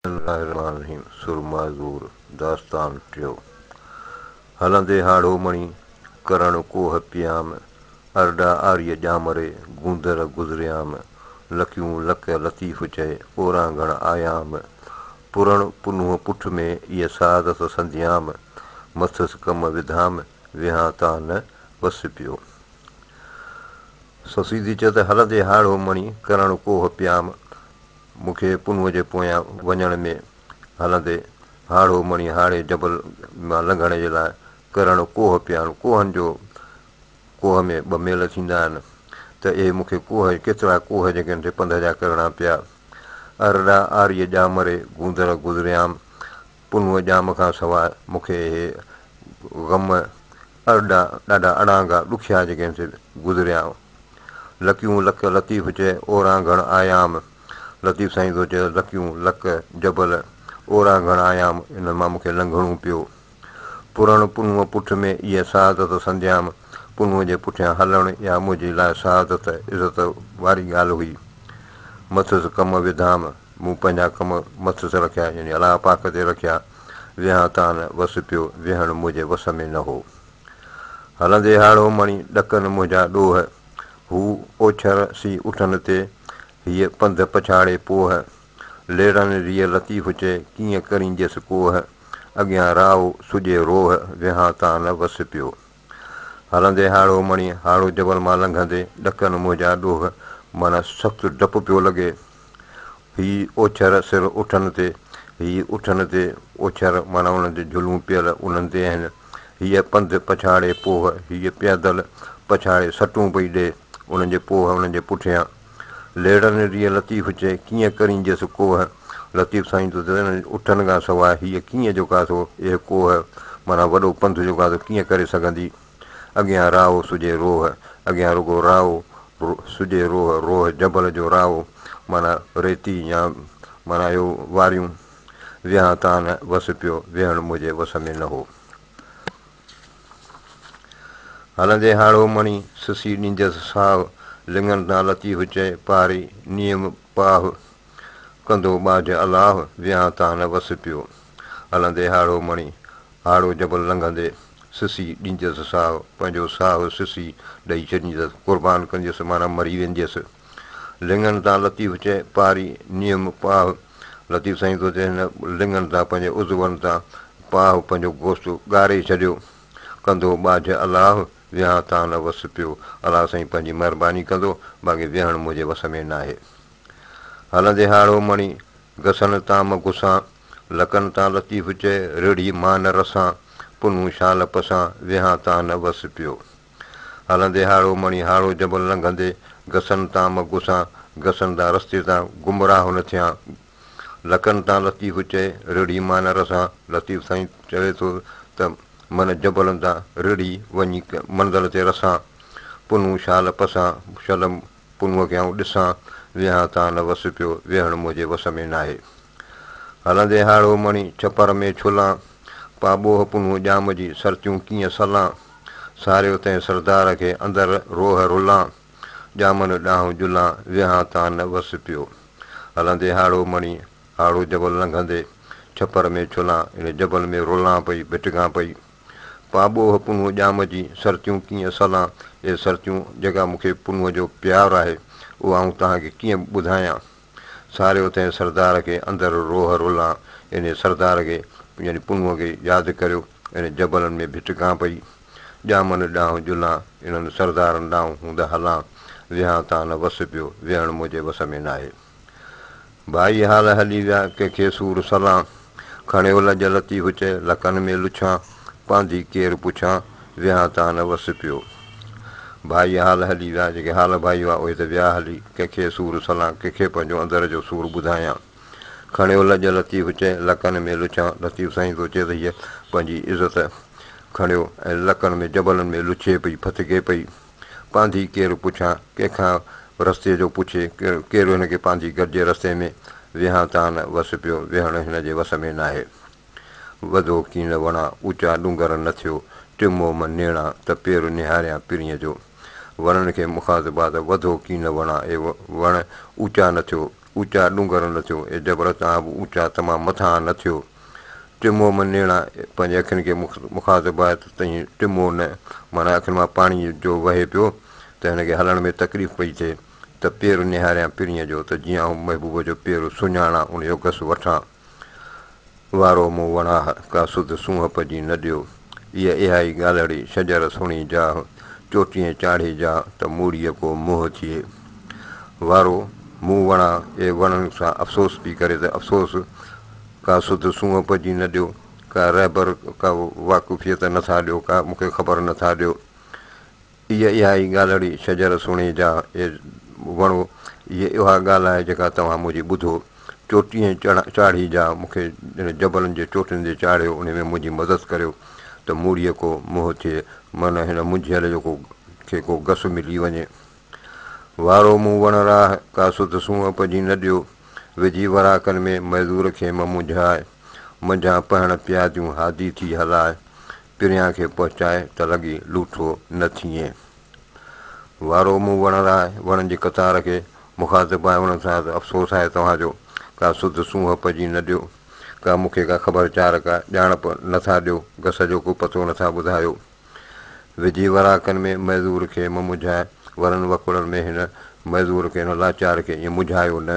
بسم الله الرحمٰن الرحيم سرما زور داستان ٽيون هلندي هاڙهو مڻي ڪرڻ ڪوه پيام ارڏا آريء ڄامري گوندر گذريام لڪيون لڪ لطيف چئي اورانگهڻ آيام پرڻ پنهون پٺ ۾ ايء سعادت سنديام مٿس ڪم وڌام ويهان تان نه وس پيو سو سيڌي چئي ته هلندي هاڙهو مڻي ڪرڻ ڪوه پيام مون کي پنهونء جي پويان وڃڻ ۾ هلندي هاڙهو مڻي هاڙهي جبل مان لنگهڻ جي لاء ڪرڻ ڪوهه پيا آهن. ڪوهن جو ڪوهه ۾ ٻه ميل ٿيندا آهن ته اهي مون کي ڪوهه ڪيترا ڪوهه جي ڳنڍ پنڌ جا ڪرڻا پيا. ارڏا، آريء، ڄامري، گوندر، گذريام، پنهونء ڄام کان سواء مون کي اهي غم ارڏا ڏاڍا اڙانگا ڏکيا جيڪي هن تي گذريا. لڪيون لڪ لطيف چئه اورانگهڻ آيام لطيف سائين ٿو چئي لڪيون لڪ جبل اورانگهڻ آيام انهن مان مون کي لنگهڻو پيو. پرڻ پنهونء پٺ ۾ ايئن سعادت سنديام پنهونء جي پٺيان هلڻ اها منهنجي لاء سعادت عزت واري ڳالهه هئي. مٿس ڪم وڌام مون پنهنجا ڪم مٿس رکيا يعني الله پاڪ تي رکيا، ويهان تان وس پيو، ويهڻ منهنجي وس ۾ نه هو. هلندي هاڙهو مڻي ڏڪن منهنجا ڏوهه، هو اوڇر سي اٺن تي، هيء پنڌ پڇاڙي پوهه، ليڙن ريء لطيف چئي، ڪيئن ڪرينجيس ڪوهه، اڳيان راهو سڄي روهه، ويهان تان نه وس پيو. هلندي هاڙهو مڻي هاڙهو جبل مان لنگهندي ڏڪن منهنجا ڏوهه معنيٰ سخت ڊپ پيو لڳي. هي اوڇر سر اٺن تي، هي اٺن تي اوڇر معنيٰ انهن جون جھلون پيل انهن تي آهن. هيء پنڌ پڇاڙي پوهه، هيء پيدل پڇاڙي سٽون پئي ڏئي، انهن جي پوهه انهن جي پٺيان. ليڙن ريء لطيف چئي، ڪيئن ڪرين جيس ڪوهه. لطيف سائين تو ذرن اٺن کان سواء هيء ڪيئن جو ڪاٿو اهي ڪوهه، معنيٰ وڏو پنڌ جو ڪاٿو ڪيئن ڪري سگهندي. اڳيان راهو سجهي روهه، اڳيان رڳو راهو، سجهي روهه، روهه جبل جو راهو، معنيٰ ريتي يا معنيٰ اهو واريون. ويهان تان نه وس پيو، ويهڻ منهنجي وس ۾ نه هو. هلندي هاڙهو مڻي، سسي ڏينديس ساهه. لڱن تان لتي هچئي، پاري نيم پاهه. ڪندو ٻاجهه الاهه، ويهان تان نه وس پيو. هلندي هاڙهو مڻي، هاڙهو جبل لنگهندي، سسي ڏينديس ساهه، پنهنجو ساهه سسي ڏئي ڇڏينديس، قربان ڪنديس معنيٰ مري وينديس. لڱن تان لطيف چئي، پاري نيم پاهه لطيف سائين سوچي هن لڱن تان پنهنجي عضون تان پاهه پنهنجو گوشت ڳاري ڇڏيو. ڪندو ٻاجهه الله ويهان تان نه وس پيو. الله سائين پنهنجي مهرباني ڪندو باقي ويهڻ منهنجي وس ۾ ناهي. هلندي هاڙهو مڻي، گسن تان م گسان، لڪن تان لطيف چئي، رڙهي مان نه رسان، پنهون شال پسان، ويهان تان نه وس پيو. هلندي هاڙهو مڻي هاڙهو جبل لنگهندي گسن تان مگهه سان گسن تان رستي تان گمراهه نه ٿيان لڪن تان لطيف چئي رڙهي مانه رسان لطيف سائين چوي ٿو ته من جبلن تان رڙهي وڃي منزل تي رسان پنهون شال پسان شل پنهون کي آئون ڏسان ويهان تان نه وس پيو ويهڻ منهنجي وس ۾ ناهي. هلندي هاڙهو مڻي ڇپر ۾ ڇلان، پا ٻوهه پنهون ڄام جي سرتيون ڪيئن سلان، ساريو تنهن سردار کي اندر روهه رلان، ڄامن ڏانهن جلان ويهان تان نه وس پيو. هلندي هاڙهو مڻي هاڙهو جبل لنگهندي ڇپر ۾ ڇلان، ان جبل ۾ رلان پئي ڀٽڪان پئي، پا ٻوهه پنهون ڄام جي سرتيون ڪيئن سلان، اي سرتيون جيڪا مون کي پنهون جو پيار آهي، اهو آئون توهان کي ڪيئن ٻڌايان. ساري اتي سردار کي اندر روح رولان انهي سردار کي يعني پنهونء کي ياد ڪريو انهي جبلن ۾ ڀٽ گان پئي ڄامن ڏانهن جلان انهن سردارن ڏانهن هوند هلان ويهان تان نه وس پيو ويهڻ منهنجي وس ۾ ناهي ڀائي حال هلي ويا ڪنهن کي سور سلان. کڻيو لڄ لتي هچ، لڪن ۾ لڇان، پانڌي ڪير پڇان، ويهان تان نه وس پيو. ڀائي حال هلي ويا، جيڪي حال ڀائي هئا، اهي ته ويا هلي، ڪنهن کي سور سلان، ڪنهن کي پنهنجو اندر جو سور ٻڌايان. کڻيو لڄ لتي هچ، لڪن ۾ لڇان، لطيف سائين ٿو چئي ته هيء پنهنجي عزت کڻيو ۽ لڪن ۾ جبلن ۾ لڇي پئي، ڦٿڪي پئي. پانڌي ڪير پڇان، ڪنهن کان رستي جو پڇي، ڪير هن کي پانڌي گڏجي رستي ۾، ويهان تان وس پيو، ويهڻ هن جي وس ۾ ناهي. وڌو ڪين وڻا، اوچا ڏونگر نه ٿيو، ٽمو م نيڻا، ته پير نهاريان پرينء جو. وڻن کي مخاطبات، وڌو ڪين وڻا، اي وڻ اوچا نه ٿيو، اوچا ڏونگر نه ٿيو، اي جبل توهان به اوچا تمام مٿانهان نه ٿيو. ٽمو من نيڻا پنهنجي اکين کي مخاطب آهي ته تنهين ٽمو نه، معنيٰ اکين مان پاڻي جو وهي پيو ته هن کي هلڻ ۾ تڪليف پئي ٿئي ته پير نهاريان پرينء جو ته جيئن آئون محبوب جو پير سڃاڻان ان جو گس وٺان. وارو مون وڻاه، ڪا سڌ سونهپ جي نه ڏيو. ايء اهائي ڳالهڙي، شجر سهڻي جاهه، چوٽيء چاڙهي جاء، ته موڙيء ڪو منهن ٿئي. وارو، مون وڻاه، اي وڻن سان افسوس پي ڪري ته افسوس، ڪا سڌ سونهپ جي نه ڏيو، ڪا رهبر، ڪا واقفيت نه ٿا ڏيو، ڪا مون کي خبر نه ٿا ڏيو. اي اها ئي ڳالهڙي شجر سهڻي جا اي وڻو، اي اها ڳالهه آهي جيڪا توهان منهنجي ٻڌو، چوٽي ۽ چاڙهي جا مون کي جنهن جبلن جي چوٽين تي چاڙهيو انهي ۾ منهنجي مدد ڪريو ته موڙيء ڪو منهن ٿئي معنيٰ هن منجهيل جو ڪو کي ڪو گس ملي وڃي. وارو مون وڻ راه ڪا سڌ سونهن پجي نه ڏيو، وجهي وراڪن ۾ معذور کي ممنجهاء، منجهان پهڻ پياديون هادي ٿي هلاء، پريان کي پهچائي ته لڳي لوٿو نه ٿئين وارو مون وڻ لاء وڻن جي قطار کي مخاطب آهي انهن سان ته افسوس آهي توهان جو ڪا سڌ سونهن پجي نه ڏيو ڪا مون کي ڪا خبر چار ڪا ڄاڻپ نه ٿا ڏيو گس جو ڪو پتو نه ٿا ٻڌايو وجهي وراڪن ۾ معذور کي مه مجهائي ورن وڪوڙن ۾ هن معذور کي هن لاچار کي ائين مجهايو نه.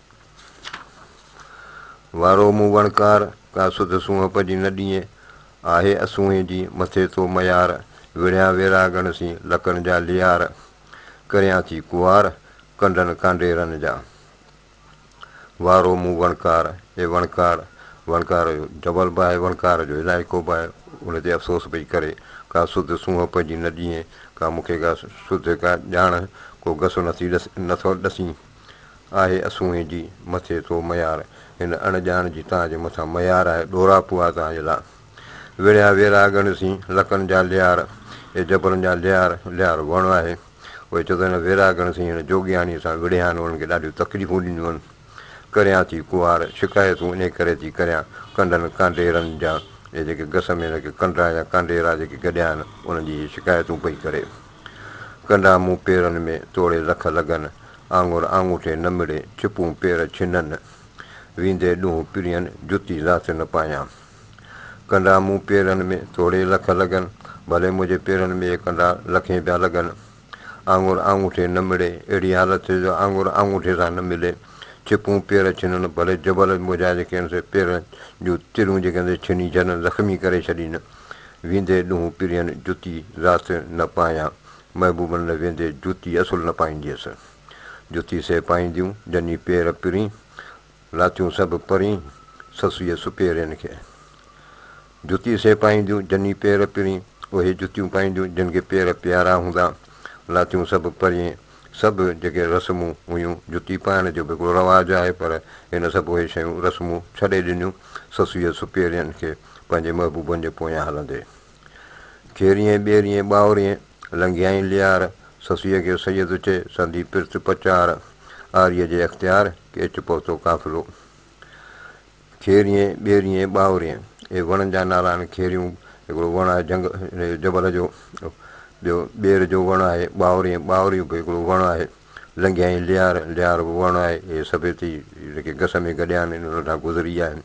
وارو مون وڻڪار، ڪا سڌ سونهپ جي نه ڏينء، آهي اسونهين جي مٿي تو ميار، وڙهيان ويراڳڻ سين لڪن جا ليار، ڪريان ٿي ڪوار، ڪنڊن ڪانڊيرن جا. وارو مون وڻڪار، اي وڻڪار، وڻڪار جو جبل به آهي، وڻڪار جو علائقو به آهي، ان تي افسوس پئي ڪري، ڪا سڌ سونهپ جي نه ڏينء، ڪا مون کي ڪا سڌ ڪا ڄاڻ، ڪو گس نٿي نٿو ڏسين. آهي اسونهين جي مٿي تو ميار هن اڻ ڄاڻ جي تان جي مٿان ميار آهي ڏورا پوئا تان جي لا وڙهيا ويراڳن سين لڪن جا ليار اي جبلن جا ليار ليار وڻ آهي اهي چتو هن ويراڳن سين هن جوڳياڻي سان وڙهيان انهن کي ڏاڍيون تڪليفون ڏنيون ڪريان ٿي ڪوار شڪايتون انهي ڪري ٿي ڪريان ڪنڊن ڪانڊيرن جا اهي جيڪي گس ۾ هن کي ڪنڊا يا ڪانڊيرا جيڪي گڏيا آهن انهن جي هي شڪايتون پئي ڪري. ڪنڊا مون پيرن ۾، توڙي لک لڳن، آڱر آڱوٺي نه مڙي، ڇپون پير ڇنن، ويندي ڏونهن پرين، جتي ذات نه پايان. ڪنڊا مون پيرن ۾، توڙي لک لڳن، ڀلي منهنجي پيرن ۾ اهي ڪنڊا لکين پيا لڳن، آڱر آڱوٺي نه مڙي، اهڙي حالت ٿئي جو آڱر آڱوٺي سان نه ملي، ڇپون پير ڇنن، ڀلي جبل منهنجا جيڪي آهن سي پيرن جون تريون جيڪي آهن سي ڇني ڇڏن، زخمي ڪري ڇڏين. ويندي ڏونهن پرين جتي ذات نه پايان، محبوبن لئه ويندي جتي اصل نه پائينديس. جتي سي پائينديون، جني پير پرين، لاتيون سڀ پرين، سسئي سپيرين کي. جتي سي پائينديون، جني پير پرين، اهي جتيون پائينديون، جن کي پير پيارا هوندا، لاتيون سڀ پرين، سڀ جيڪي رسمون هيون، جتي پائڻ جو به هڪڙو رواج آهي پر هن سڀ اهي شيون، رسمون، ڇڏي ڏنيون، سسئيء سپيرين کي پنهنجي محبوبن جي پويان هلندي. کيرينء ٻيرينء ٻاورينء، لنگهيائين ليار، سسئيء کي سيد چئي، سندي پرت پچار، آريء جي اختيار، ڪيچ پهتو قافلو. کيريين، ٻيريين، ٻاوريين، اهي وڻن جا نالا آهن. کيريون هڪڙو وڻ آهي جهنگ جبل جو. ٻيو ٻير جو وڻ آهي. ٻاوريين، ٻاوريون به هڪڙو وڻ آهي. لنگهيائين ليار، ليار به وڻ آهي. اهي سڀيتي هن کي گس ۾ گڏيا آهن، هن هٿان گذري ويا آهن.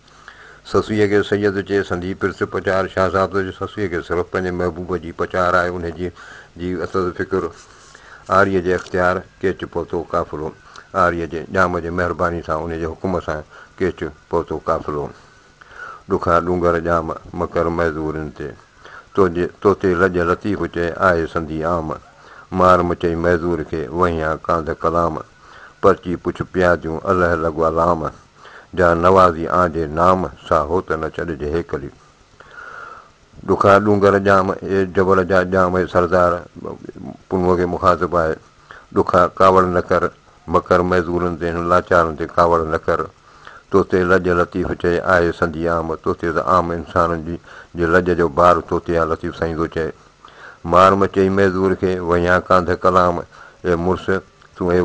سسئيء کي سيد چئي سندي پرس پچار شهزادو جي سسئيء کي صرف پنهنجي محبوب جي پچار آهي، انهيء جي اٿس فڪر. آريء جي اختيار ڪيچ پهتو قافلو. آريء جي ڄام جي مهرباني سان انهيء جي حڪم سان ڪيچ پهتو قافلو. ڏکا ڏونگر ڄام مڪر معذورين تي. توجي توتي لڄ لطيف چئي آهي سندي عام. مار مچئي معذور کي وهيان ڪانڌ ڪلام. پرچي پڇ پياديون الهه لڳوا لام. جا نوازي آنجي نام سا هوت نه ڇڏجي هيڪلي. ڏکا ڏونگر ڄام اي جبل جا ڄام اي سردار پنهونء کي مخاطب آهي ڏکا ڪاوڙ نه ڪر مڪر معذورن تي هن لاچارن تي ڪاوڙ نه ڪر تو تي لڄ لطيف چئي آهي سندي عام تو تي ته عام انسانن جي جي لڄ جو بار تو تي آ لطيف سائين ٿو چئي مار مچئي معذور کي وهيان ڪانڌ ڪلام اي مڙس تون اي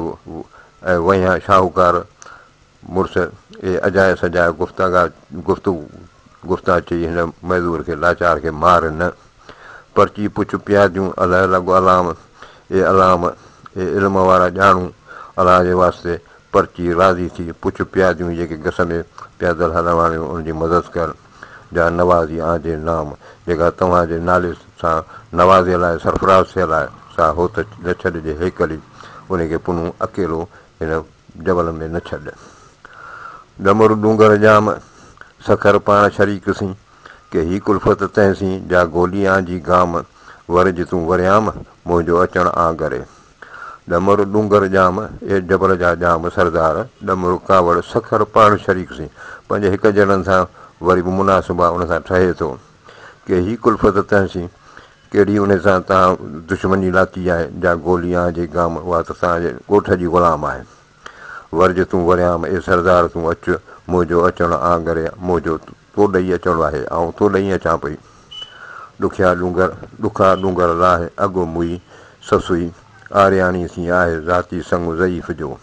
وهيان شاهوڪار مڙس اهي اجايا سجايا گفتاگا گفتو گفتا چئي هن معذور کي لاچار کي مار نه، پر چئي پڇ پياديون اله لڳ الام اي الام اي علم وارا ڄاڻو الله جي واسطي پر چئي راضي ٿي پڇ پياديون جيڪي گس ۾ پيادل هلڻ واريون ان جي مدد ڪر جا نوازي آن جي نام جيڪا توهان جي نالي سان نوازيل آهي سرفراز ٿيل آهي سا هوت نه ڇڏجي هيڪلي انهي کي پنهون اڪيلو هن جبل ۾ نه ڇڏ. ڏمر ڏونگر ڄام، سکر پاڻ شريڪ سين، ڪي هي ڪلفت تنهن سين، جا گولي آن جي گام، ور جي تون وريام، منهنجو اچڻ آن گري. ڏمر ڏونگر ڄام، اي جبل جا ڄام سردار، ڏمر ڪاوڙ، سکر پاڻ شريڪ سين، پنهنجي هڪ جهڙن سان وري به مناسب آ، ان سان ٺهي ٿو، ڪي هي ڪلفت تنهن سين، ڪهڙي انهي سان توهان دشمني لاٿي آهي، جا گولي آنهه جي گام، اها ته توهان جي ڳوٺ جي غلام آهي. ورجه تون وريام، اي سردار تون اچ، منهنجو اچڻ آڱري منهنجو تو ڏيئي اچڻو آهي، آئون تو ڏيئي اچان پئي. ڏکيا ڏونگر، ڏکا ڏونگر لاهه، اڳ مئي سسئي آرياڻي سين آهي، ذاتي سڱ ضعيف جو.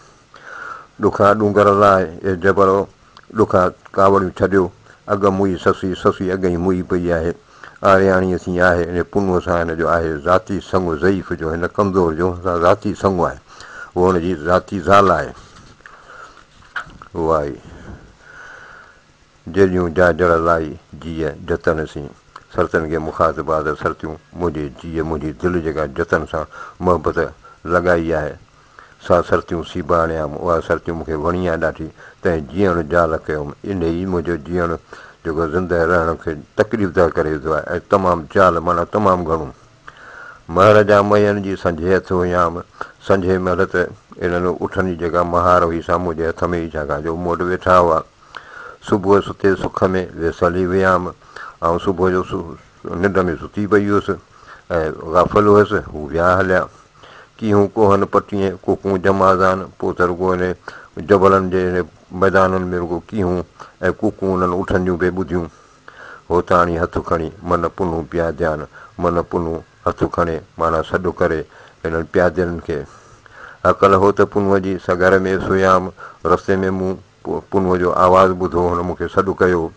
ڏکا ڏونگر لاء اي جبرو، ڏکا ڪاوڙيون ڇڏيو، اڳ موئي سسي، سسي اڳئين موئي پئي آهي، آرياڻيء سين آهي، انهيء پنهونء سان هن جو آهي ذاتي سڱ، ضعيف جو هن ڪمزور جو هن سان ذاتي سڱ آهي، هوء هن جي ذاتي زال آهي. وائي جيڏيون جا جڙ لائي، جيء جتن سين سرتن کي مخاطب آ ته سرتيون منهنجي جيء منهنجي دل جيڪا جتن سان محبت لڳائي آهي، سا سرتيون سي به آڻيام، اها سرتيون مون کي وڻي ها ڏاڍي، تنهن جيئڻ جال ڪيوم، انهي ئي منهنجو جيئڻ جيڪو زندهه رهڻ کي تڪليف ده ڪري وڌو آهي ۽ تمام جال معنيٰ تمام گهڻو مهر جا مهين جي سنجهي هٿ هيام، سنجهي مهل ته انهن اٺن جي جيڪا مهار هئي سا منهنجي هٿ ۾ هئي ڇاڪاڻ جو مون وٽ ويٺا هئا، صبح ستي سک ۾ ويسل ئي هيام، آئون صبح جو ننڊ ۾ ستي پئي هيس ۽ غافل هيس. هو ويا هليا. ڪي هو ڪوهن پٽيين، ڪو ڪونجم آذان، پوء ته رڳو انهي جبلن جي انهي ميدانن ۾ رڳو ڪيهون ۽ ڪوڪون انهن اٺن جون پئي ٻڌيون. هوتاڻي هٿ کڻي من پنهون پياديان، من پنهون هٿ کڻي معنيٰ سڏ ڪري انهن پيادين کي. هڪل هو ته پنهون جي سگهر ۾ سويام، رستي ۾ مون پنهون جو آواز ٻڌو، هن مون کي سڏ ڪيو.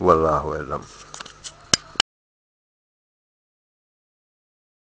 والله اعلم.